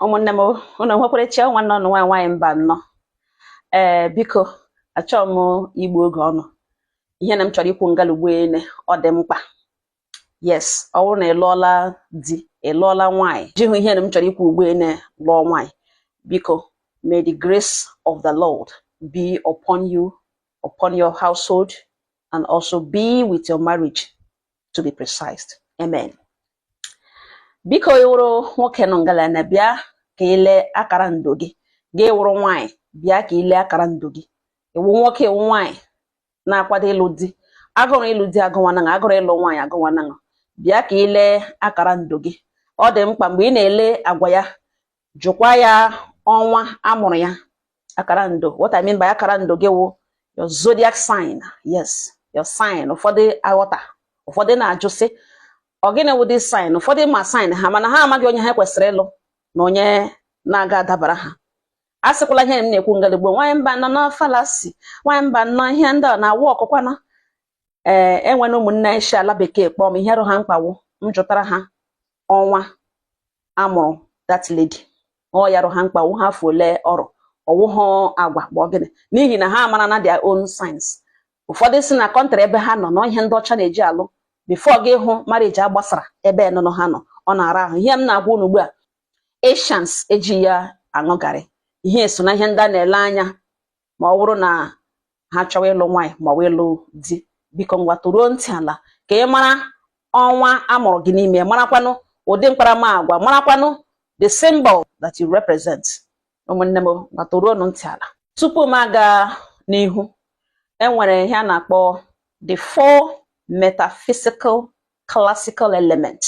ụmụnne m ụnụ nwekwara chi ọ nwanne unu nwaanyị Mbanọ ee biko achọọ m igbu oge unu ihe na m chọrọ ikwu ngala ugbu ele ọ dị mkpa yes ọ wụrụ na ị lụọla di ị lụọla nwaanyị jihụ ihe na m chọrọ ikwu ugbu ele lụọ nwaanyị biko may the grace of the Lord be upon you upon your household and also be with your marriage to be precise amen biko ị wụrụ nwoke nọ ngalana bịa ka i lee akara ndụ gị gị wụrụ nwaanyị bịa ka i lee akara ndụ gị ị wụ nwoke ị wụ nwaanyị na-akwado ịlụ di agụrụ ịlụ di agụwanaṅa agụrụ ịlụ nwaanyị agụwanaṅa bịa ka i lee akara ndụ gị ọ dị mkpa mgbe ị na-ele agwa ya jụkwa ya ọnwa a mụrụ ya akara ndụ what I mean by akara ndụ gị wụ your zodiac sign yes your sign ụfọdụ aghọta ụfọdụ na-ajụ sị ọ gịnị wụ this sign ụfọdụ ma sign ha mana ha amaghị onye ha kwesịrị ịlụ na onye na-aga adabara ha a sịkwala ihe m na-ekwu ngala ugbo nwaanyị Mbanọ na ọ fallacy nwaanyị Mbanọ ihe ndị a na-awụ ọkụkwana ee eh, enwere ụmụnne anyị si ala bekee kpọọ m ihe rị ha mkpa wụ m jụtara ha ọnwa a mụrụ that lady ọ ya rị ha mkpa ọ wụhụ afọ ole ọ rị ọ wụhụ agwa bụ gịnị n'ihi na ha amarana their own signs ụfọdụ si na kọntrị ebe ha nọ na ọ ihe ndị ọcha na-eji alụ before gị hụ marriage agbasara ebe nụnụ ha nọ ọ na-ara ahụ ihe m na-agwa unu ugbu a Asians eji ya aṅụ garị ihe so na ihe ndị a na-ele anya ma ọ wụrụ na ha chọwa ịlụ nwaanyị ma ọ wụ ịlụ di biko ngwa toruo ntị ala ka ị mara ọnwa a mụrụ gị n'ime marakwanụ ụdị mkparamagwa marakwanụ the symbol that you represent ụmụnne m ngwa toruo ntị ala tupu m aga n'ihu enwere ihe a na-akpọ the four metaphysical classical elements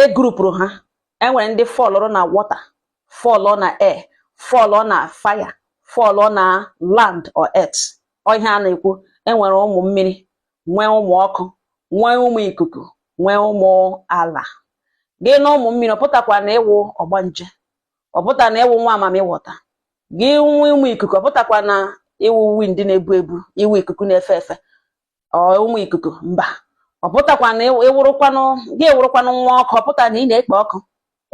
e grupụrụ ha enwere ndị fọlụrụ na water fọlụ na air fọlụ na fire fọlụ na land or earth ọ ihe a na-ekwu enwere ụmụ mmiri nwee ụmụ ọkụ nwee ụmụ ikuku nwee ụmụ ala gị nụ ụmụ mmiri ọ pụtakwa na ị wụ ọgbanje ọ pụta na ị wụ nwa mamịwọta gị nụ ụmụ ikuku ọ pụtakwa na ị wụ wind na-ebu ebu ị wụ ikuku na-efe efe ụmụ ikuku mba ọ pụtakwa na ị wụrụkwanụ gị wụrụkwanụ nwa ọkụ ọ pụta na ị na-ekpo ọkụ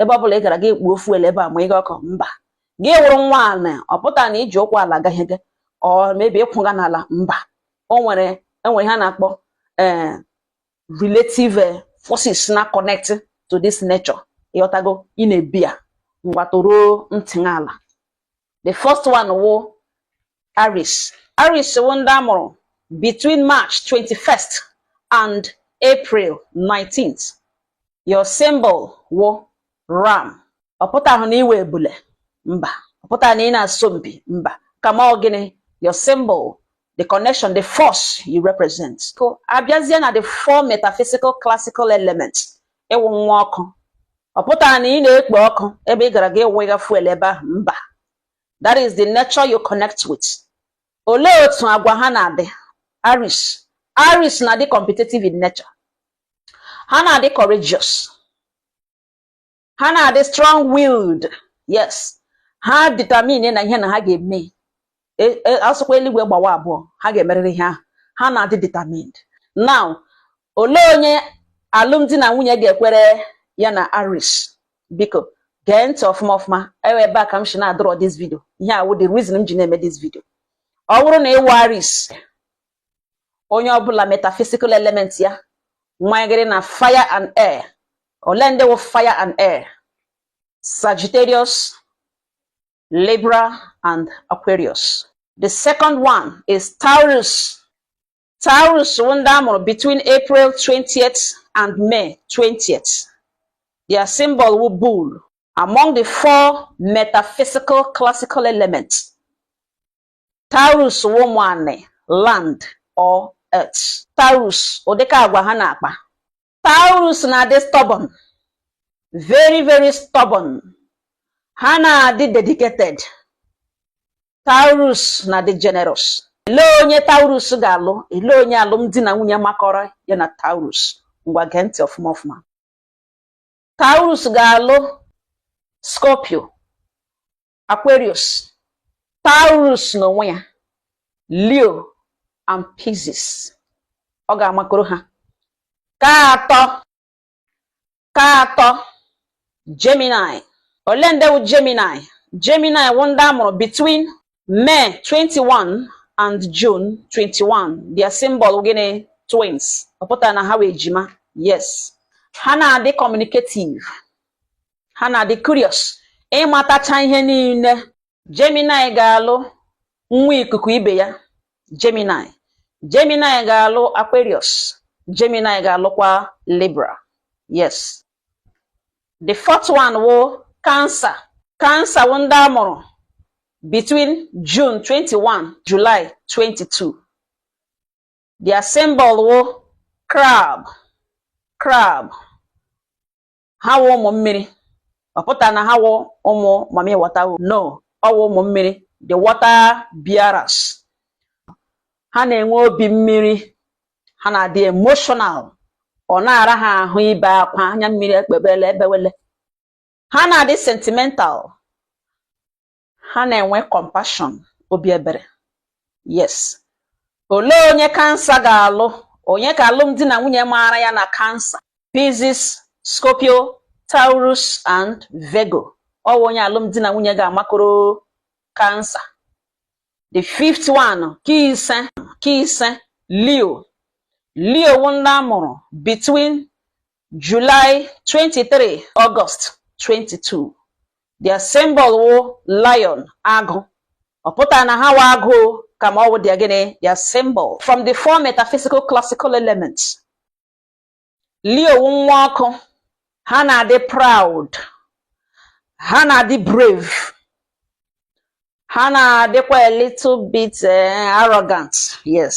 ebe ọ bụla ị gara gị kpuo fuel ebe a ma ị ga ọkụ mba gị wụrụ nwa ala ọ pụta na i ji ụkwụ ala gaghị gị ọ mebi ị kwụga n'ala mba o nwere enwere ihe a na-akpọ eh, relative eh, forces na connect to this nature ị ghọtago ị na-ebi ya ngwa toruo ntị ala the first one wụ Aries Aries wụ ndị a mụrụ between March 21st and April 19th your symbol wụ ram ọ pụtahụ na ị wụ ebule mba ọ pụtaghị na ị na-asọ mpi mba kama ọ gịnị your symbol the connection the force you represent so a bịazie na the four metaphysical classical elements ị wụ nwa ọkụ ọ pụtara na ị na-ekpo ọkụ ebe ị gara gị wụga fuel ebe ahụ mba that is the nature you connect with olee otu agwa ha na-adị Aries Aries na-adị competitive in nature ha na-adị courageous ha na-adị strong willed yes ha determine na ihe na ha ga-eme a sụkwa eluigwe gbawa abụọ ha ga-emerịrị ihe ahụ ha na-adị determined now olee onye alụmdi na nwunye ga-ekwere ya na Aries biko gee ntị ọfụma ọfụma ọ wụ ebe a ka m shi na-adọrọ this video ihe a wụ the reason m ji na-eme this video ọ wụrụ na ị wụ Aries onye ọbụla metaphysical element ya nwanyegịrị na fire and air ole ndị wụ fire and air Sagittarius Libra and Aquarius the second one is Taurus Taurus wụ ndị a mụrụ between April 20th and May 20th their symbol wụ bull among the four metaphysical classical elements Taurus wụ ụmụ anị, land or earth. Taurus, ụdịka agwa ha na-akpa. Taurus na-adị stubborn, very very stubborn. Ha na-adị dedicated. Taurus na-adị generous. Ele onye Taurus ga-alụ? Ele onye alụmdi na nwunye makọrọ ya na Taurus? Ngwa gee ntị ọfụma ọfụma. Taurus ga-alụ Scorpio. Aquarius Taurus n'onwe ya Leo and Pisces ọ ga-amakọrọ ha ka atọ ka atọ Gemini ole ndị wụ Gemini Gemini wụ ndị a mụrụ between May 21 and June 21 their symbol gịnị twins ọ pụtara na ha wụ ejima yes ha na-adị communicative ha na-adị curious ịmatacha ihe niile Gemini ga-alụ nwa ikuku ibe ya Gemini Gemini ga-alụ Aquarius Gemini ga-alụkwa Libra yes the fourth one wụ Cancer Cancer wụ ndị a mụrụ between June 21 July 22 their symbol wụ crab crab ha wụ ụmụ mmiri ọ pụta na ha wụ ụmụ mami wata no ọ wụ ụmụ mmiri the water bearers ha na-enwe obi mmiri ha na-adị emotional ọ na-ara ha ahụ ibe akwa anya mmiri ekpebele ebewele ha na-adị sentimental ha na-enwe compassion obi ebere yes olee onye Cancer ga-alụ onye ka alụmdi na nwunye maara ya na Cancer Pisces Scorpio Taurus and Virgo ọ wụ onye alụmdi na nwunye ga-amakọrọ Cancer the fifth one ke ise Leo Leo wụ ndị a mụrụ between July 23 August 22 their symbol wụ lion agụ ọ pụtara na ha wụ agụ kama ọ wụ their gịnị their symbol from the four metaphysical classical elements Leo wụ nwa ọkụ ha na-adị proud ha na-adị brave ha na-adịkwa a little bit eh, arrogant yes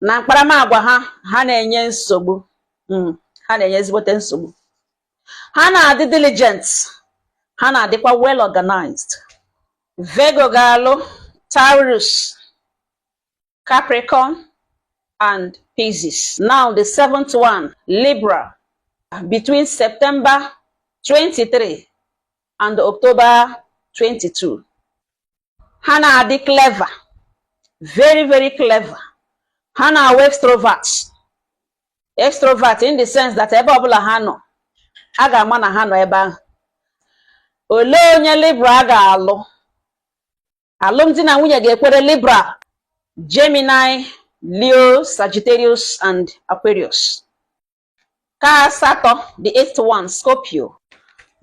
na mkparamagwa ha ha na-enye nsogbu hmm, ha na-enye ezigbote nsogbu ha na-adị diligent ha na-adịkwa well organized Virgo ga-alụ Taurus Capricorn and Pisces now the seventh one Libra between September 23 and October 22 ha na-adị clever very very clever ha na-awụ extrovert extrovert in the sense that ebe ọbụla ha nọ a ga-ama na ha nọ ebe ahụ olee onye Libra ga-alụ alụmdi na nwunye ga-ekwere Libra Gemini Leo Sagittarius and Aquarius ke asatọ the eighth one Scorpio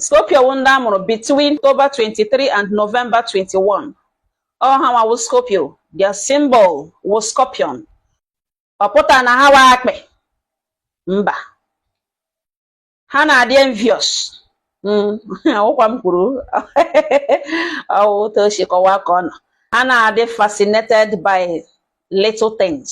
Scorpio wụ ndị a mụrụ between October 23 and November 21 ọ hanwa wụ Scorpio their symbol wụ scorpion ọ pụta na ha wụ akpị mba ha na-adị envious ọ wụkwa m kwuru ọ wụ otu o si kọwaa ka ọ nọ ha na-adị fascinated by little things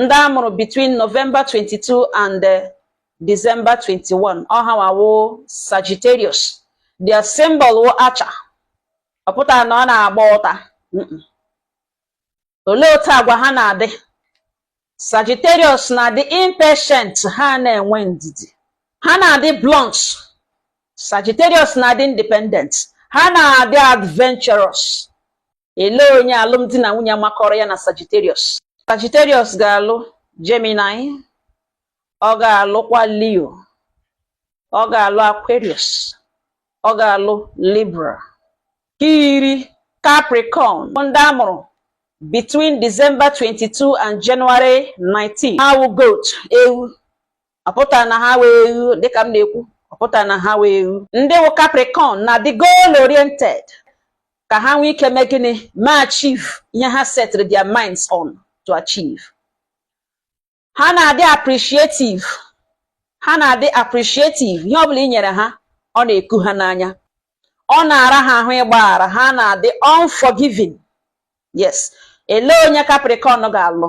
ndị a mụrụ between November 22 and eh, December 21 ọ hanwa wụ Sagittarius their symbol wụ archer ọ pụtara na ọ na-agba ụta Mm-mm. olee otu agwa ha na-adị Sagittarius na-adị impatient ha na-enwe ndidi ha na-adị blunt Sagittarius na-adị independent ha na-adị adventurous elee onye alụmdi na nwunye makọrọ ya na Sagittarius Sagittarius ga-alụ Gemini ọ ga-alụkwa Leo ọ ga-alụ Aquarius ọ ga-alụ Libra ke iri Capricorn ndị a mụrụ between December 22 and January 19 ha wụ goat ewu ọ pụtara na ha wụ eghu dịka m na-ekwu ọ pụtara na ha wụ eghu ndị wụ Capricorn na-adị goal oriented ka ha nwee ike mee gịnị ma achieve ihe ha setịrị their minds on to achieve ha na-adị appreciative ha na-adị appreciative ihe ọ bụla i nyere ha ọ na-eku ha n'anya ọ na-ara ha ahụ ịgbaghara ha na-adị unforgiving yes elee onye Capricorn ga-alụ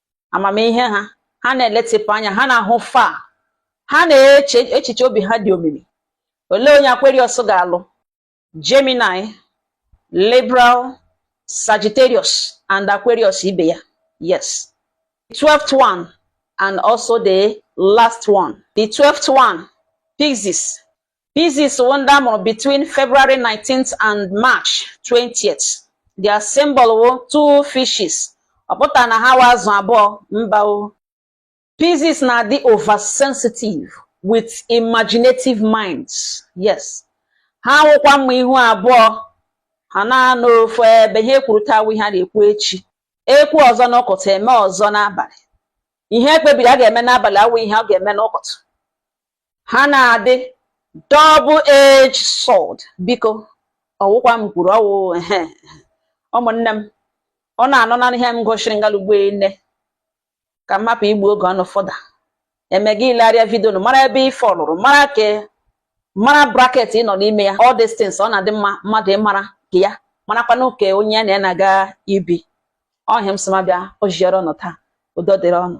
amamihe ha ha na-eletịpụ anya ha na-ahụ far ha na-eche echiche obi ha dị omimi olee onye Aquarius ga-alụ Gemini Libra Sagittarius and Aquarius ibe ya yes 12th one and also the last one the 12th one Pisces Pisces wụ ndị a mụrụ between February 19th and March 20th. Their symbol wụ two fishes. Ọ pụtara na ha wụ azụ abụọ mba o. Pisces na-adị oversensitive with imaginative minds. Yes. Ha wụkwa mma ihu abụọ ha na-anọ ofu ebe ihe e kwuru taa awụ ihe a na-ekwu echi ekwu ọzọ n'ụkụtụ eme ọzọ n'abalị ihe e kpebiri a ga-eme n'abalị awụ ihe a ga-eme n'ụkụtụ ha na-adị double edged sword biko ọwụkwa m kwuru ọwụ ehe ụmụnne m ọ na-anọ na ihe m gosiri ngalugbo nne ka m hapụ igbu oge ụnụ further eme gị ilegharịa vidio nụ mara ebe ị fọlụrụ mara ke mara bracket ị nọ n'ime ya all these things ọ na-adị mma mmadụ ịmara ke ya marakwa nke onye na ya na-aga ibi ọ ihe m sị ma bịa o jiere ụnụ taa udo dịrị ụnụ